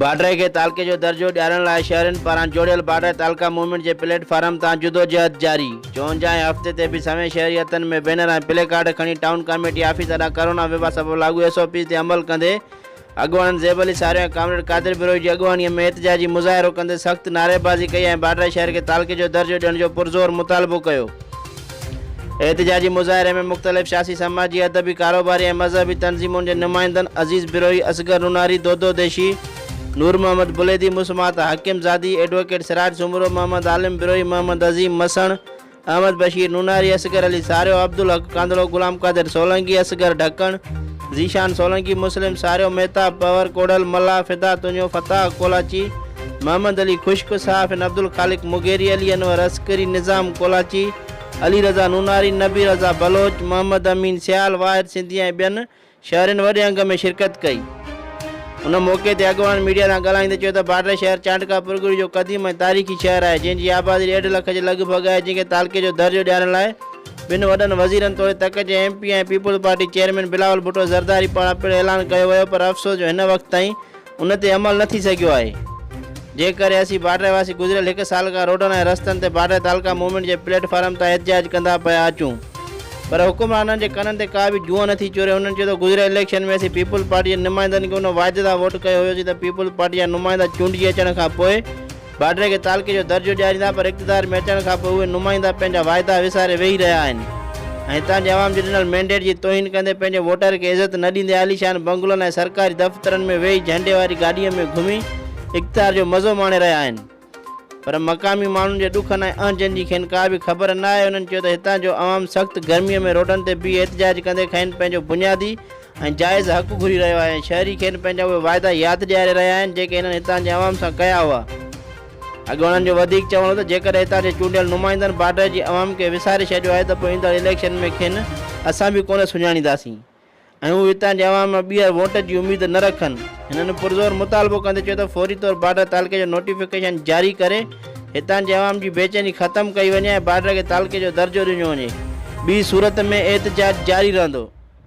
باڊري کي تعلقي جو درجو ڏيارڻ لاء شهرين پاران جوڙيل باڊري تعلقه موومينٽ جي پليٽ فارم تان جدوجهد جاري، چونجاهه هفتي تي به سوين شهري هٿن ۾ بينر ۽ پلي ڪارڊ کڻي ٽائون ڪاميٽي آفيس اڏا ڪرونا وبا سبب لاڳو ايس او پيز تي عمل ڪندي اڳواڻن زيب علي ساريو ۽ ڪامريڊ قادر بروهي جي اڳواڻي ۾ احتجاجي مظاهرو ڪندي سخت نعريبازي ڪئي ۽ باڊري شهر کي تعلقي جو درجو ڏيڻ جو پرزور مطالبو ڪيو. احتجاجي مظاهري ۾ مختلف سياسي، سماجي، ادبي، ڪاروباري ۽ مذهبي تنظيمن جي نمائندن عزيز بروهي، اصغر نوناري، دودو ديشي، نور محمد بليدي، مسمات حاڪم زادي، ايڊووڪيٽ سراج سومرو، محمد عالم بروهي، محمد عظيم مسڻ، احمد بشير نوناري، اصغر علي ساريو، عبدالحق ڪانڌڙو، غلام قادر سولنگي، اصغر ڍڪڻ، ذيشان سولنگي، مسلم ساريو، مهتاب پنور، ڪوڙهل ملاح، فدا تنيو، فتاح ڪولاچي، محمد علي خشڪ، صحافين عبدالخالق مغيري، علي انور عسڪري، نظام ڪولاچي، علي رضا نوناري، نبي رضا بلوچ، محمد امين سيال، واحد سنڌي ۽ ٻين شهرين وڏي انگ ۾ شرڪت ڪئي. ان موقعي تي اڳواڻن ميڊيا سان ڳالهائيندي چيو ته بارڊر شهر چانڊڪا پرڳڙي جو قديم ۽ تاريخي شهر آهي جنهن جي آبادي ڏيڍ لک جي لڳ ڀڳ آهي جنهن کي تعلقي جو درجو ڏيارڻ لاء ٻن وڏن وزيرن توڙي تڪ جي ايم پي ۽ پيپلز پارٽي چيئرمين بلاول ڀٽو زرداري پاران پڻ اعلان ڪيو ويو پر افسوس جو هن وقت تائين ان تي عمل نه ٿي سگهيو آهي، جنهن ڪري اسين باڊري واسي گذريل هڪ سال کان روڊن ۽ رستن تي باڊري تعلقه موومينٽ جي پليٽ فارم تان احتجاج ڪندا پيا اچون پر حڪمرانن جي ڪنن تي ڪا به جونء نه ٿي چوري انهن چيو ته گذريل اليڪشن ۾ اسين پيپلز پارٽي جي نمائندن کي ان وعدي سان ووٽ ڪيو هيو سين ته پيپلز پارٽي جا نمائندا چونڊجي اچڻ کان پوء باڊري کي تعلقي جو درجو ڏياريندا پر اقتدار ۾ اچڻ کان پوء اهي نمائندا پنهنجا واعدا وساري ويهي رهيا آهن ۽ هتان جي عوام جي ڏنل مينڊيٽ جي توهين ڪندي پنهنجي ووٽر کي عزت نه ڏيندي عاليشان بنگلن ۽ سرڪاري دفترن ۾ ويهي جهنڊي واري گاڏيء ۾ گهمي اقتدار جو مزو ماڻي رهيا آهن پر مقامي ماڻهن جي ڏکن ۽ اهنجن جي کين ڪا به خبر نه آهي انهن چيو ته هتان جو عوام سخت گرمي ۾ روڊن تي بيهي احتجاج ڪندي کين پنهنجو بنيادي ۽ جائز حق گهري رهيو آهي ۽ شهري کين پنهنجا اهي واعدا ياد ڏياري رهيا آهن جيڪي هنن هتان جي عوام سان ڪيا هئا. اڳ انهن جو وڌيڪ چوڻ هو ته جيڪڏهن هتان جي چونڊيل نمائندن بارڊر جي عوام کي وساري ڇڏيو آهي ته پوء ايندڙ اليڪشن ۾ کين اسان به ڪونه سڃاڻينداسين ۽ هو هتان جي عوام مان ٻيهر ووٽ جي اميد نه رکن. هنن پرزور مطالبو ڪندي چيو ته فوري طور بارڊر تعلقي جو نوٽيفڪيشن جاري ڪري هتان جي عوام جي بيچيني ختم ڪئي وڃي ۽ بارڊر کي تعلقي جو درجو ڏنو وڃي ٻي صورت ۾ احتجاج جاري رهندو.